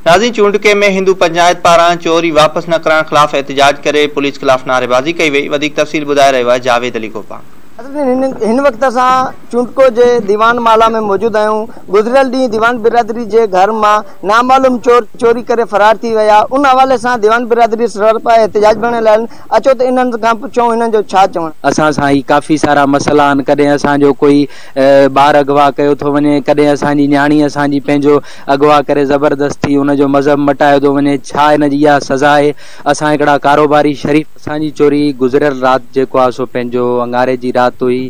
نازين چونڊڪي ۾ هندو پنچائت پاران چوري واپس نه ڪرائڻ خلاف احتجاج ڪري پوليس خلاف نعريبازي ڪئي وئي، وڌيڪ تفصيل ٻڌائي رهيو آهي جاويد علي گوپانگ. ناظرين هن وقت اسان چونڊڪو جي ديوان مالا ۾ موجود آهيون گذريل ڏينهن ديوان برادري جي گهر مان نامعلوم چور چوري ڪري فرار ٿي ويا ان حوالي سان ديوان برادري سرپا احتجاج ڀرڻي لايل اچو ته انهن کان پڇون هنن جو ڇا چوڻ. اسان سان هي ڪافي سارا مسئلا آهن ڪڏهن اسان جو ڪوئي ٻار اغوا ڪيو ٿو وڃي ڪڏهن اسان جي نياڻي اسان جي پنهنجو اغوا ڪري زبردستي ان جو مذهب مٽايو ٿو وڃي ڇا ان جي اها سزا آهي اسان هڪڙا ڪاروباري شريف اسان جي چوري گذريل رات جيڪو آهي سو پنهنجو اڱاري جي رات هئي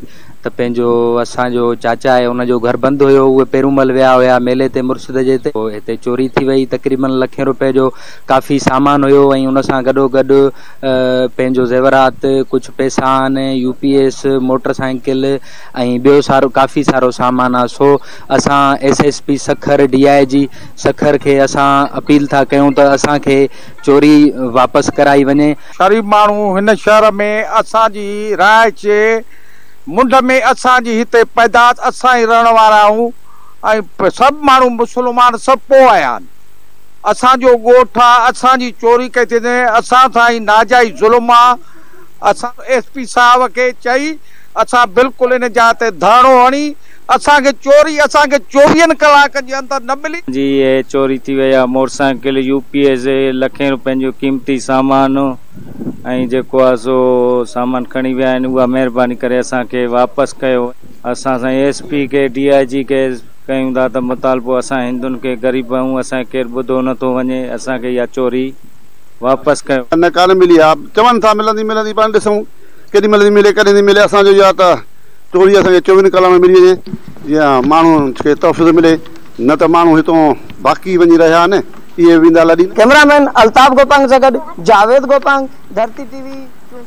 ته پنهنجو اسان جو چاچا آهي ان جو گهر بند هيو اهي پيرومل ويا هيا ميلي تي مرشد جي ته هتي چوري ٿي وئي تقريبن لکين روپئي جو ڪافي سامان هيو ۽ ان سان گڏو گڏ پنهنجو زيورات ڪجهه پيسا آهن U P S motorcycle ۽ ٻيو سارو ڪافي سارو سامان آهي سو اسان S S P Sukkur D I G Sukkur کي اسان اپيل ٿا ڪيون ته اسان کي چوري واپس ڪرائي وڃي. غريب ماڻهو هن شهر ۾ اسان جي رهائش منڍ ۾ اسان جي هتي پيداس اسان ئي رهڻ وارا آهيون ۽ سڀ ماڻهو مسلمان سڀ پوء آيا آهن اسان جو ڳوٺ آ اسان جي چوري ڪئي ٿي وڃي اسان سان هي ناجائز ظلم آ اسان ايس پي صاحب کي چئي اسان بلڪل ان جاء تي ڌرڻو هڻي اسان کي چوري اسان کي چوويهن ڪلاڪن جي اندر نه ملي. جي اهي چوري ٿي وئي آهي موٽرسائيڪل يو پي ايس لکين روپين جو قيمتي سامان ۽ جيڪو آهي سو سامان کڻي ويا آهن اها مهرباني ڪري اسان کي واپس ڪيو. اسان سائين ايس پي کي ڊي آء جي کي ڪيون ٿا ته مطالبو اسان هندن کي غريب آهيون اسان کي ڪير ٻڌو نه ٿو وڃي اسان کي اها چوري واپس ڪيو. نه ڪانه ملي آهي چون ٿا ملندي ملندي پاڻ ڏسون ڪيڏي مهل ٿي ملي ڪڏهن ٿي ملي اسان جو يا ته. ٽولي اسان کي چوين ڪلاڪن ۾ ملي وڃي جيئن ماڻهن کي تحفظ ملي نه ته ماڻهو هتون باقي وڃي رهيا آهن اهي ويندا لڏي نه. ڪئميرا مين الطاف گوپانگ سان گڏ جاويد گوپانگ، ڌرتي ٽي وي، چنڊ.